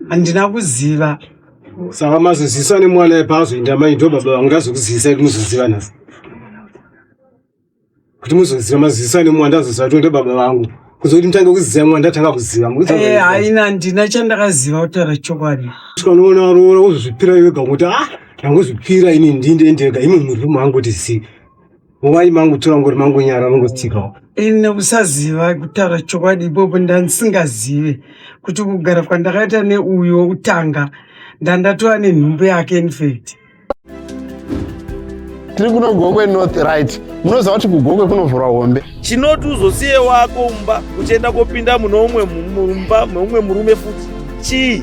handina kuziva saka mazozivisa nemwana ipa azoenda mai ndo baba vangu ndazokuzivisa kuti muzoziva nhasi kuti muzoziva mazozivisa nemwana ndazoziva kuti ndo baba vangu kuzo kuti mutange kuziva mwana ndatanga kuziva eh, haina handina chandakaziva kutaura chokwadi tikanoona varoora wozozvipira iwe gakuti a ah, ndangozvipira ini ndindendega imwe muriro mangu kuti zii Why mangu tora ngori mangu nyara mangu tsikawo. Ini usaziva kutaura chokwadi ipopo ndandisingazive kuti kugara kwandakaita neuyo wokutanga ndandatova nenhumbu yake infact. Tiri kuno Gokwe North right. Munoziva kuti kuGokwe kunovhurwa hombe. Chinoti uzosiye wako mumba uchienda kopinda muno umwe mumba meumwe murume futi. Chii?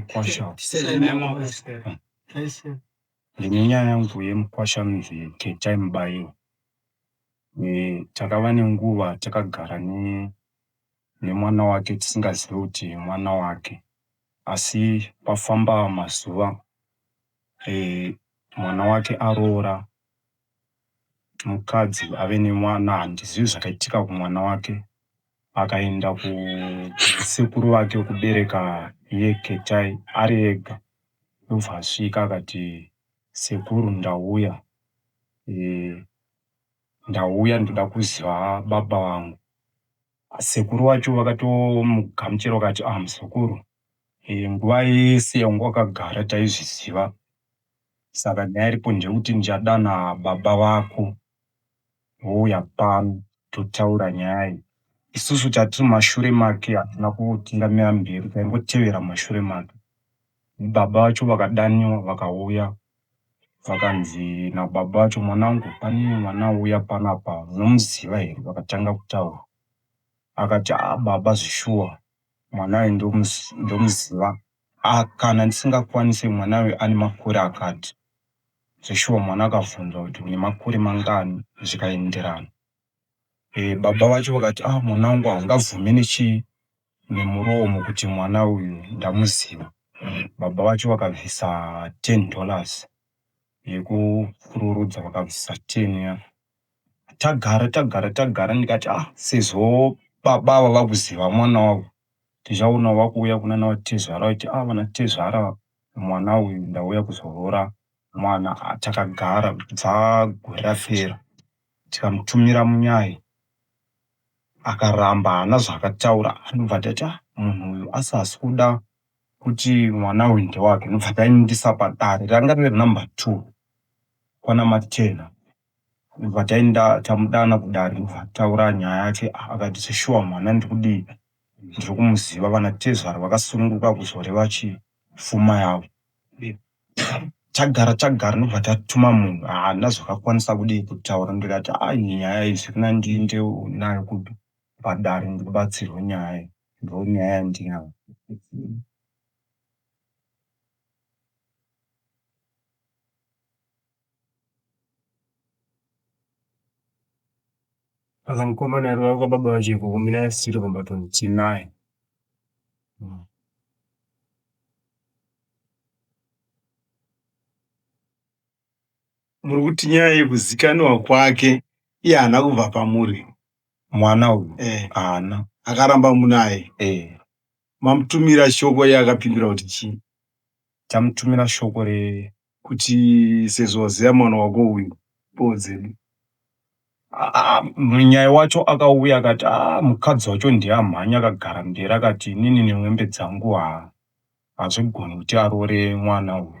mukwasha ndine nyaya yangu yemukwasha anonzi Ketai Mubayiwa. Takava nenguva takagara nemwana wake tisingazive kuti mwana wake asi pafamba mazuva mwana wake aroora. Mukadzi ave nemwana handizivi zvakaitika kumwana wake. Akaenda kusekuru vake kubereka iye Ketai ari ega ndobva asvika akati sekuru ndauya ndauya ndoda kuziva baba vangu. Sekuru vacho vakatomugamuchira vakati muzukuru nguva yese yawanga wakagara taizviziva. saka nyaya iripo ndeyekuti ndichadana baba vako vouya pano totaura nyaya iyi isusu tatiri mashure make hatina kutingamira mberi taingotevera mashure make baba vacho vakadaniwa vakauya vakanzi nababa vacho mwanangu pane mwana auya panapa unomuziva here vakatanga kutaura akati a baba zvishuwa mwana uyu ndomuziva Haa kana ndisingakwanise mwana uyu ane makore akati zveshuwa mwana akavhunzwa kuti une makore mangani zvikaenderana e, baba vacho vakati ah mwana wangu haungabvume nechi nemuromo kuti mwana uyu ndamuziva baba vacho vakabvisa 10 dollars yekupururudza vakabvisa 10 ya tagara tagara tagara ndikati ah sezvo baba ava vakuziva mwana wavo ndichaona vakuuya kunana tezvara vachiti ah vana tezvara mwana uyu ndauya kuzoroora mwana. Ah, takagara kubva gore rapera tikamutumira munyai akaramba haana zvaakataura ndobva ndati ah munhu uyu asi haasi kuda kuti mwana uyu ndewake ndobva taendesa padare ranga riri number two kwana Machena ndobva taenda tamudana kudare ndobva taura nyaya yacho akati zveshuwa mwana ndikudii ndiri kumuziva vanatezvara vakasununguka kuzoreva chii pfuma yavo tagara tagara ndobva tatuma munhu haana zvakakwanisa kudii kutaura ndikati a nyaya iyi zvirinani ndiende nayo kupi padare ndibatsirwe nyaya iyi ndonyaya yandinayo Saka mukomana ari wanga baba vacho ikoko mina asiri kumba toni tinaye muri kuti nyaya yekuzikaniwa kwake iye haana kubva pamuri mwana uyu eh. haana akaramba munaye eh. mamutumira shoko iye akapindura kuti chii tamutumira shoko re kuti sezvo waziva mwana wako uyu boo dzedu munyaya wacho akauya akati ah, mukadzi wacho ndiye amhanya akagara mberi akati inini nemwembe dzangu ha hazvigoni kuti aroore mwana uyu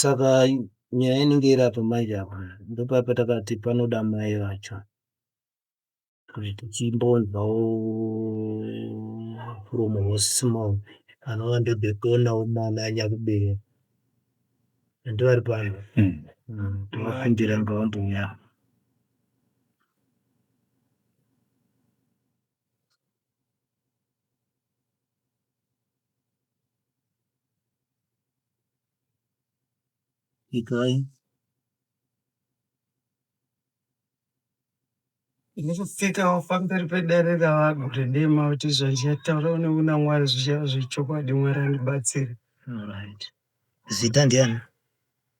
Saka nyaya inenge iri apa manje apa ndopaya patakati panoda mai vacho kuti tichimbonzwawo from horse's mouth anova ndodhotonawo mwana anyakuberekwa and vari pano tinokumbira ngavambouya Ikai. Ndikusikawo pamberi pedare ravanhu kuti ndiye mauti zvandichatauura une kuna Mwari zvichava zvechokwadi Mwari andibatsire. Alright. Zita ndiani?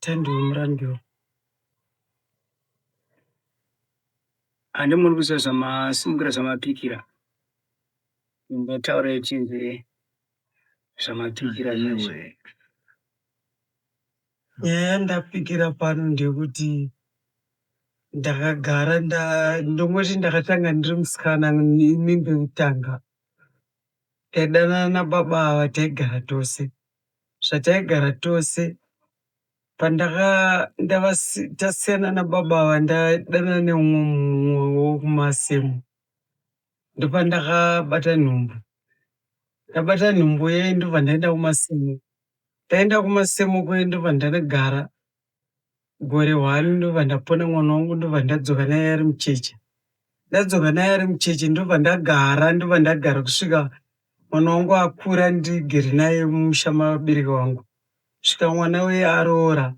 Tandiwe Murandiwa. Handimuri kuziva zvamasimukira zvamapikira. Ndataura ichinzi zvamapikira izvi. Nyaya ndapikira pano ndekuti ndakagara ndongoti ndakatanga ndiri musikana imi ndokutanga taidanana nababa ava taigara tose zvataigara tose pandaka tasiyana nababa ava ndadanana neumwe mumwe wokumasemu ndopandakabata nhumbu ndabata nhumbu ye ndobva ndaenda kumasemu ndaenda kumasemu kuye ndobva ndanogara gore hwani ndobva ndapona mwana wangu ndobva ndadzoka naye ari mucheche ndadzoka naye ari mucheche ndobva ndagara ndobva ndagara kusvika mwana wangu akura ndigere naye mumusha mabereki wangu kusvika mwana uye aroora.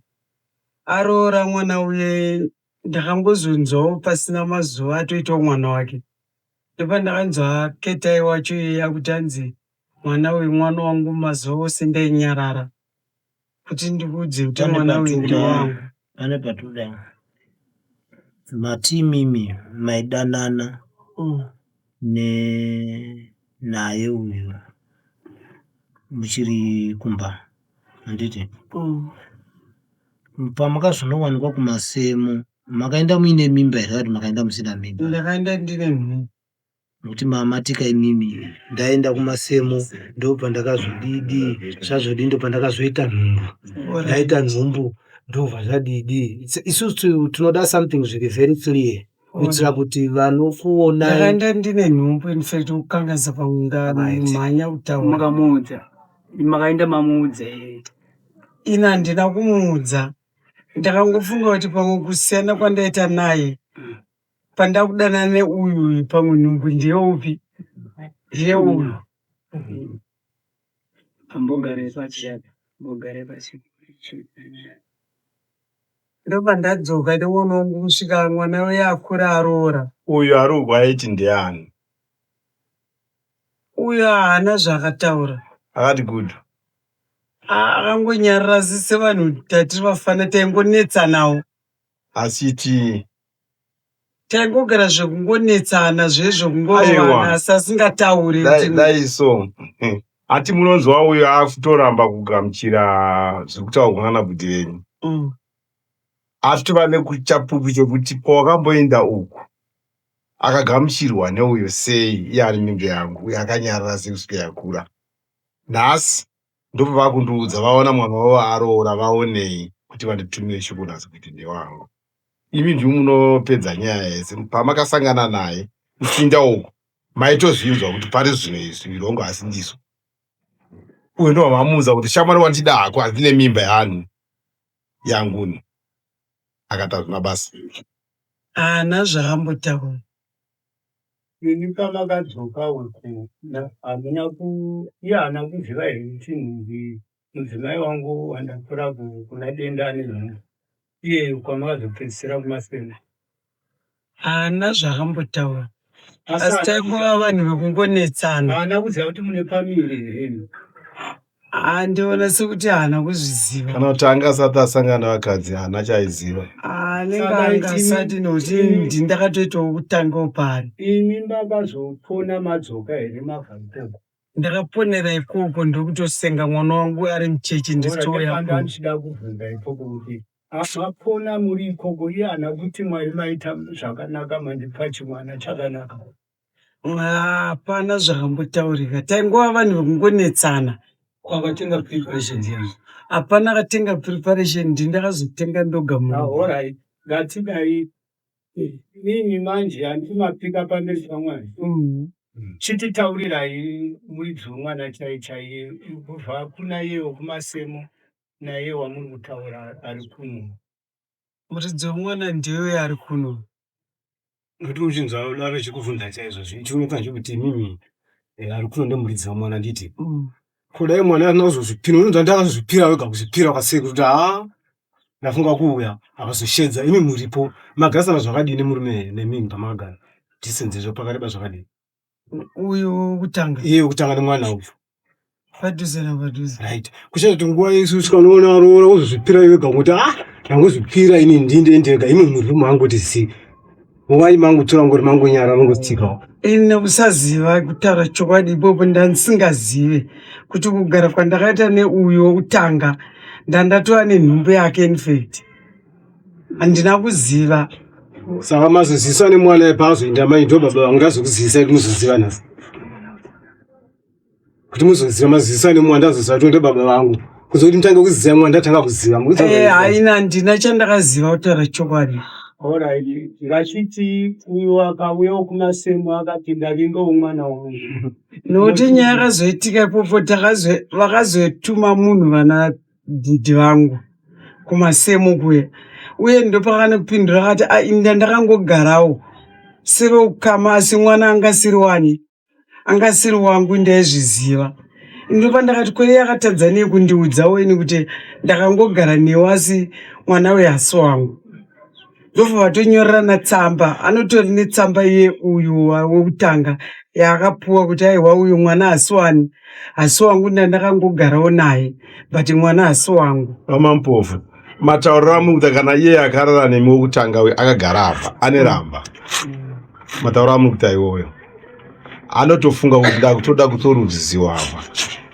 Aroora mwana uye ndakambozonzwawo pasina mazuva atoitawo mwana wake. Ndopandakanzwa Ketai wacho iye akuti hanzi mwana uyu mwana wangu mazuva ose ndainyarara kuti ndikuudze kuti mwana uyu ndiwangu. pane patoda mati imimi maidanana mm. ne naye uyu muchiri kumba handiti mm. pamakazonowanikwa kumasemo makaenda muine mimba here kati makaenda musina mimba ndakaenda ndine mhii Nokuti mamatika imimi ndaenda kumasemo ndobva ndakazodidi zvazodii ndobva ndakazoita nhumbu ndaita nhumbu ndobva zvadidi isusu tinoda something zviri very clear kuitira kuti vanokuona ndakanda ndine nhumbu infact kukangaisa pamunda mhanya kutaura makamuudza makaenda mamuudza ini handina kumuudza ndakangofunga kuti pamwe kusiyana kwandaita naye pandakudanana neuyu uyu pamwe nhumbu ndeyeupi ndeyeuyu ndopandadzoka ndoona wangu kusvika mwana uye akura aroora uyu aroorwa aiti ndeani uyu haana zvaakataura akati good akangonyarira asi sevanhu tatiri vafana taingonetsanawo asi tii Taingogara zvekungonetsana zvezvo kungorovana asi asingatauri. Dai so. Ati munonzwa uyo akutoramba kugamuchira zviri kutaurwa nana bhudhi venyu. Mm. Asi tova nekuchapupu chekuti pawakamboenda uku akagamuchirwa neuyo sei iye ari mimbe yangu uye akanyarara sei kusvika yakura. Nhasi ndopavakundiudza vaona mwana wavo aroora vaonei kuti vanditumire shoko nhasi kuti ndewavo imi ndimi munopedza nyaya yese pamakasangana naye kufinda uku maitozvinzwa kuti pari zvino izvi mirongo asi ndizvo uyu ndovamamuudza kuti shamwari wandida hako handine mimba yani yanguni akatazvina basa haana zvaambotaura Imi pamakadzoka uku hamuna ku iye haana kuziva here kuti mudzimai wangu wandakura kuna denda ane nhumbu iye kwamakazopedzisira kumasenda. Haana zvaakambotaura asi taingova vanhu vekungonetsana. Haana kuziva kuti mune family here imi. Ah, ndiona sekuti haana kuzviziva kana kuti anga asati asangana nevakadzi haana chaaiziva Ah, anenge Saka anga iti- asati nokuti iti- ndi- ndakatoitawo kutanga pari imi makazopona madzoka here mabva ikoko ndakaponera ikoko ndokutosenga mwana wangu ari mucheche ndichitouya kuno. ndandida kubvunza ikoko kuti ah, mapona muri ikoko iye ana kuti mwari maita zvakanaka mandipa chimwana chakanaka hapana zvakambotaurika taingova vanhu vekungonetsana kwakatenga preparation yangu hapana akatenga preparation ndi ndakazotenga ndoga muorai ngatidai nini manje handimapika pamberi pamwari mm. chititaurirai muridzi wemwana chai chaiye kubva kuna yewo kumasemo naye wamuri kutaura ari kuno Muridzi wemwana ndiye uya ari kuno. Nokuti uchinzwa vave chikuvhunza chaizvo zvichiunoka zvekuti mimi eh, ari kuno ndomuridzi wemwana nditi Mm. kudai mwana asina kuzozvipira unonzwa ndi akazozvipira wega kuzvipira kwasei kuti haa ndafunga kuuya akazoshedza imi muripo magarisana zvakadini murume nemimi pamakagara distance zvo pakati pazvakadini uyo wokutanga iye wokutanga nemwana uyu padhuze napadhuze right kuchita kuti nguva yesu usikanoona roora wozozvipira iwe ga kuti ah ndangozvipira ini ndinde ndega imi murwi mangu kuti zi muvai mangu tora ngori mangu nyara vangotsikawo ini nekusaziva kutaura chokwadi ipopo ndandisingazive kuti kugara kwandakaita neuyo wokutanga ndandatova nenhumbu yake infact handina kuziva saka mazozivisa nemwana ipa azoenda mai ndo baba vangu ndazokuzivisa kuti muzoziva nhasi kuti muzoziva mazozivisa nemwana ndazoziva kuti ndo baba vangu kuzo kuti mutange kuziva mwana ndatanga kuziva eh, haina handina chandakaziva kutaura chokwadi horaidi vachiti uyo wakauyawo kumasemo akati ndavinga umwana wangu nokuti nyaya yakazoitika ipopo vakazoituma munhu vana dhidhi vangu kumasemo kuya uye ndopakanopindura akati ainda ndakangogarawo seve ukama asi mwana anga asiri wani anga asiri wangu ndaizviziva ndopa ndakati kweiye akatadza nei kundiudzawo ini kuti ndakangogara newe asi mwana uye hasi wangu ndobva vatonyorerana tsamba anotori netsamba iye uyu wekutanga yaakapuwa kuti aiwa uyu mwana hasi wani hasi wangu ndandakangogarawo naye but mwana hasi wangu vamampofu matauriro amukuta kana iye akarara nemi wekutanga uyu akagara apa ane ramba mm. matauriro amukuta iwoyo anotofunga kuti ndakutoda kutorudziziwa apa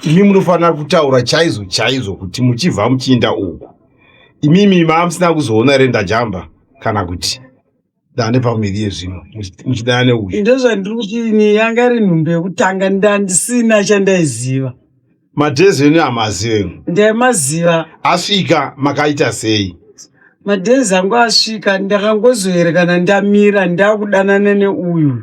imi munofanira kutaura chaizo chaizo kuti muchibva muchiinda uku imimi mamusina kuzoona here ndajamba kana kuti dande pamiri yezvino muchidana neuyu ndozvandiri kuti ini yanga iri nhumbi yekutanga ndandisina chandaiziva madhezi enu amaziva enu ndaimaziva asvika makaita sei madhezi angu asvika ndakangozoerekana ndamira ndakudanana neuyu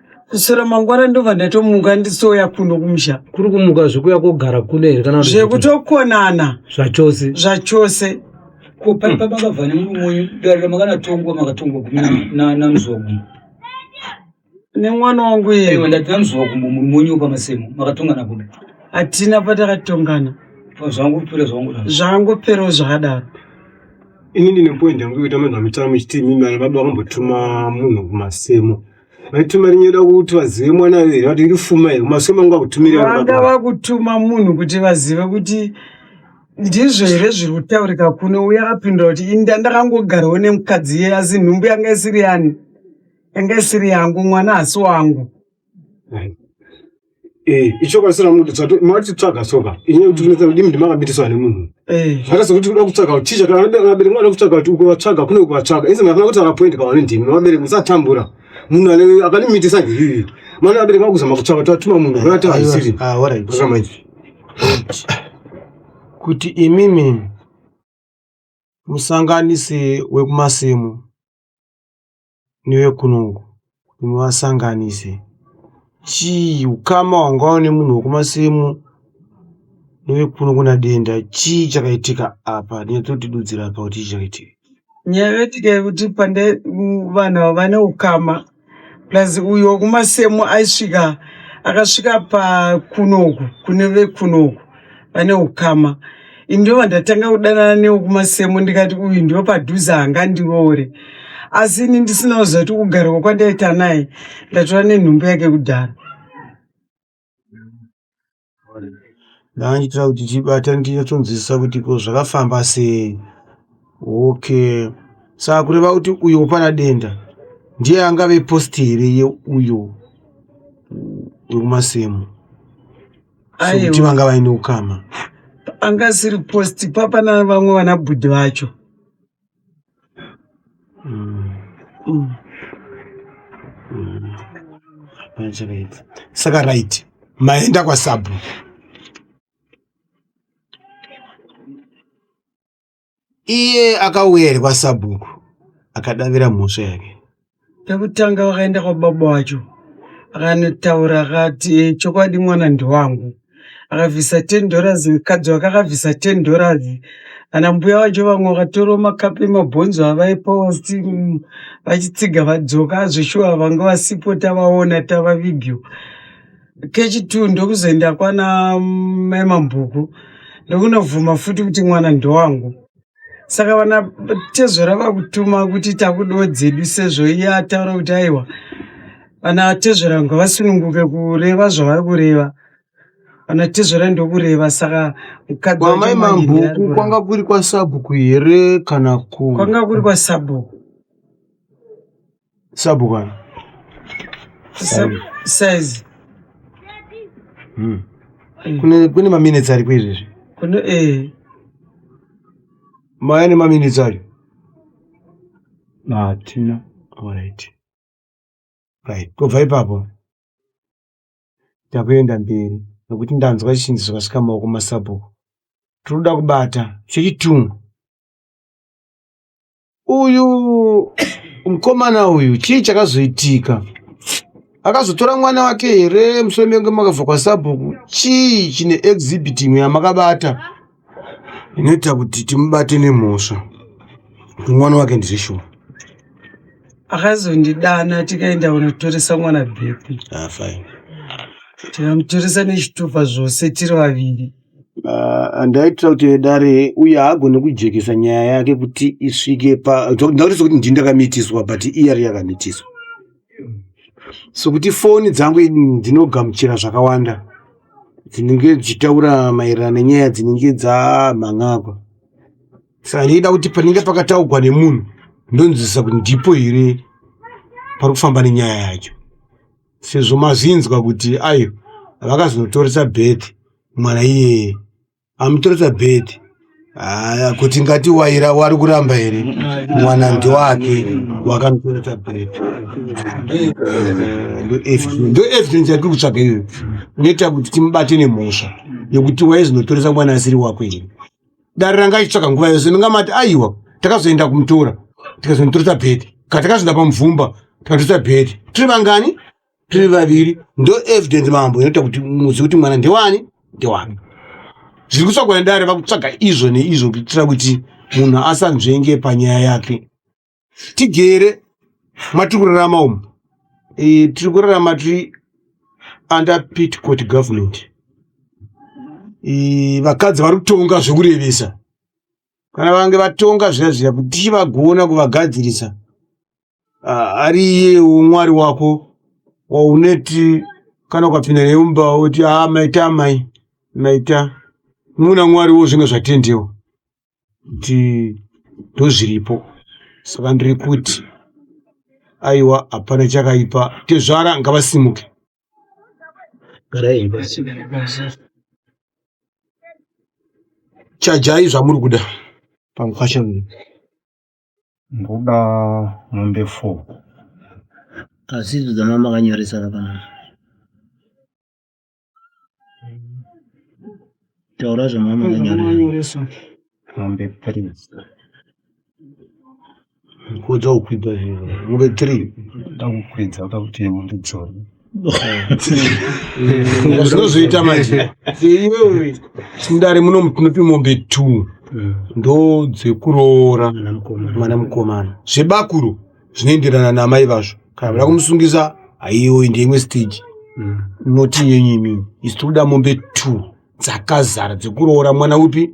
kuswera mangwana ndobva ndatomuka ndisouya kuno kumusha kuri kumuka zvekuya kogara kuno here kana zvekutokonana zvachose zvachose kupari pamakabva nemurumonyu darira makanatongwa makatongwa namzogu nemwana wangu iye ndati namzogu kumbo murumonyu pamasemo makatongana kuda hatina patakatongana zvangopera zvangopera zvangopera zvakadaro ini ndine point yangu yekuita manhu amitamo ichiti imimi vana baba vakambotuma munhu kumasemo vaituma rinyada kuti vazive mwana here vati iri fuma here maso mangu akutumira vanga vakutuma munhu kuti vazive kuti ndizvo here zviri kutaurika kuno uye apindura kuti inda ndakangogarawo nemukadzi iye asi nhumbu yanga isiri yani yanga isiri yangu mwana hasi wangu Eh, ichokwadi sina munhu tsvato mati tsvaga soka inye kuti kunetsa kudimi ndimakambitisawa nemunhu eh. zvakaita sokuti kuda kutsvaga ticha kana vabereki vanoda kutsvaga kuti ukuvatsvaga kune ukuvatsvaga inzi mafana kuti akapoindi kawane ndimi vabereki musatambura munhu ane akanimitisa ngiyiyi mwana vabereki vakuzama kutsvaga tatuma munhu vati haisiri ah, kuti imimi musanganisi wekumasimo neuye kuno uku kuti muvasanganise chii ukama hwanga une munhu wekumasimu neuye kuno kuna denda chii chakaitika apa nyatsotidudzira apa kuti chii chakaitika nyaya yoitika yekuti pande u- vanhu ava vane ukama plus uyo wekumasemu aisvika akasvika pakunoku kune vekunoku vane ukama ini ndova ndatanga kudanana newo kumasemo ndikati uyu ndiwo padhuze hanga ndiroore asi ini ndisina kuziva kuti kugarwa kwandaita naye ndatora nenhumbu yake kudhara ndaandiitira kuti tibata ndinyatsonzwisisa kuti ko zvakafamba sei okay saka kureva kuti uyo wopana denda ndiye angave posti here yeuyo wekumasemo sokuti vanga vaine ukama anga asiri post papa navamwe vana bhudhi vacho mm. Mm. Mm. saka right maenda kwasabhu Iye akauya here kwasabhuku akadavira mhosva yake. Pekutanga vakaenda kwababa wacho akanotaura akati chokwadi mwana ndiwangu akabvisa ten dollars mukadzi wake akabvisa ten dollars ana mbuya vacho vamwe vakatorawo makapu emabhonzo avaipa vati mm, vachitsiga vadzoka azveshuwa vanga vasipo tavaona tavavigiwa kechitwo ndokuzoenda kwana mai mambhuku ndokunobvuma futi kuti mwana ndowangu saka vana tezvara vakutuma kuti takudawo dzedu sezvo iye ataura kuti aiwa vana tezvara ngavasununguke kureva zvavari kureva vana tezvara ndokureva saka mukadzi wacho kwamai manje ndiye ari mambhuku kureva. kwanga kuri kwasabhuku here kana ku kwanga kuri kwasabhuku Sabu kana. Sabu size. Hmm. Eh. Kune kune ma minutes ari kwezvi zvi. Kune eh. Maya ne ma minutes ari. Na tina. All right. Right. Ko vai papo. Takuenda mberi. Nokuti ndanzwa chinzi zvakasika maoko masabu. Tinoda kubata chechitungu. uyu mukomana uyu chii chakazoitika akazotora mwana wake here musoro menge makabva kwasabhuku chii chine exhibit imwe yamakabata inoita kuti timubate nemhosva mwana wake ndizveshuwa akazondidana tikaenda kunotoresa mwana bhepi ah, tikamutoresa nechitupa zvose tiri vaviri and aitira kuti vedare uye haagone kujekesa nyaya yake kuti isvike pandaurisa kuti ndini ndakamitiswa but iye ari yakamitiswa so kuti foni dzangu ndinogamuchira zvakawanda dzinenge dzichitaura maererano nenyaya dzinenge dzamhan'agwa saka ndiida kuti panenge pakataugwa nemunhu ndonzwisisa kuti ndipo here pari kufamba nenyaya yacho sezvo mazinzwa kuti ayo vakazonotoresa bed mwana iyeye amutoresa bed aya kuti ngati waira wari kuramba here mwana ndowake wakamutoresa bed ndo evidence yatiri kutsvaga iyoyo inoita kuti timubate nemhosva yekuti waizonotoresa mwana asiri wako here dare ranga achitsvaka nguva yose ndingamati aiwa takazoenda kumutora tikazonditoresa bhedhi kana takazoenda pamuvhumba tikatoresa bhedhi tiri vangani tiri vaviri ndo evidence mambo inoita kuti muzi kuti mwana ndewani ndewani zviri kutsvagwa nedare vakutsvaga izvo neizvo kuitira kuti munhu asanzvenge panyaya yake tigere matiri kurarama umu e, tiri kurarama tiri under pitcourt government e, vakadzi vari kutonga zvekurevesa kana vange vatonga zviya zviya kuti tichivagona kuvagadzirisa ari iyewo mwari wako wauneti kana ukapinda naye mumba woti aa ah, maita amai maita muna mwari wo zvinge zvatendewo kuti ndozviripo saka ndiri kuti aiwa hapana chakaipa tezvara ngavasimuke chajai zvamuri kuda pamukwasha ndoda mombe four asi idzo dzamamakanyoresana panaa taura zvamamanyoresa mombe three kodza kukwidza zviro mombe three ndakukwidza kuda kuti mombe dzona zvinozoita manje iwewe mudare muno munopi mombe two ndo dzekuroora mwana mukomana zvebakuru zvinoenderana namai vazvo kana vada kumusungisa haiyoyi ndeimwe stage mm. noti yenyu imini isi tikuda mombe two dzakazara dzekuroora mwana upi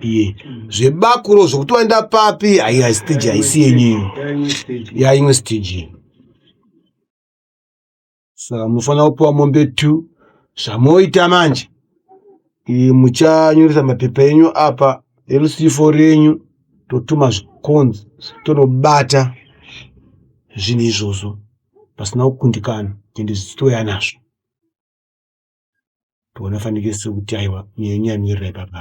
iye zvebakuro zvokuti waenda papi aiya stage haisi yenyu yaimwe stage saka munofanira kupiwa mombe two zvamoita manje muchanyoresa mapepa enyu apa erusivo renyu totuma zvikonzi tonobata zvinhu izvozvo pasina kukundikana ende zvichitouya nazvo toona fanikiso kuti aiwa nyenyu yamirira ipapa